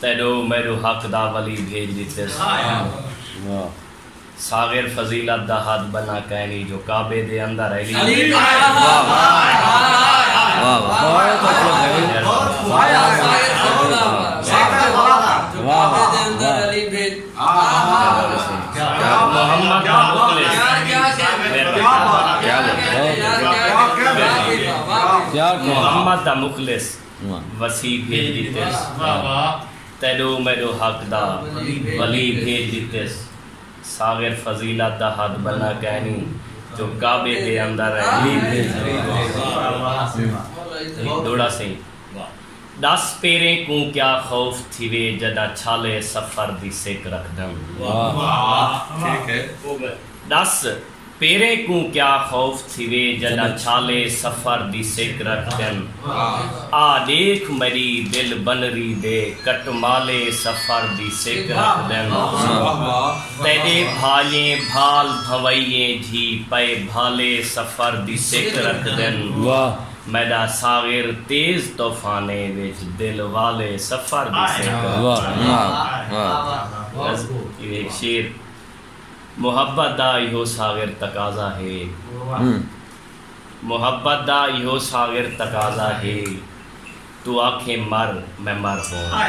تیݙو میݙو حق دا ولی بھیڄ ݙتے ساں۔ ساغر فضیلت دا ہتھ ٻنھا کائنی جو کعبے دے اندر ایلی محمد دا مخلص وسی بھیج ڈتیس تیڈو میڈو حق دا ولی بھیج ڈتیس ساغر فضیلت دا ہتھ بننا کہنی جو کعبے دے اندر ڈس پیریں کوں کیا خوف تھیوے جڈا چھالے سفر دی سک رکھدن ڈس پیریں کوں کیا خوف تھیوے جڈاں چھالے سفر دی سک رکھ دن آ ڈیکھ مری دل بنری دے کٹمالے سفر دی سک رکھ دن تیڈے بھائیں بھال بھنوئیں جھی پئے بھالے سفر دی سک رکھ دن میڈا ساغر تیز طوفانے وچ دل والے سفر دی سک رکھ دن۔ محبت دا ایہو ساغر تقاضا ہے محبت دا ایہو ساغر تقاضا ہے توں آکھیں مر میں مر ہوواں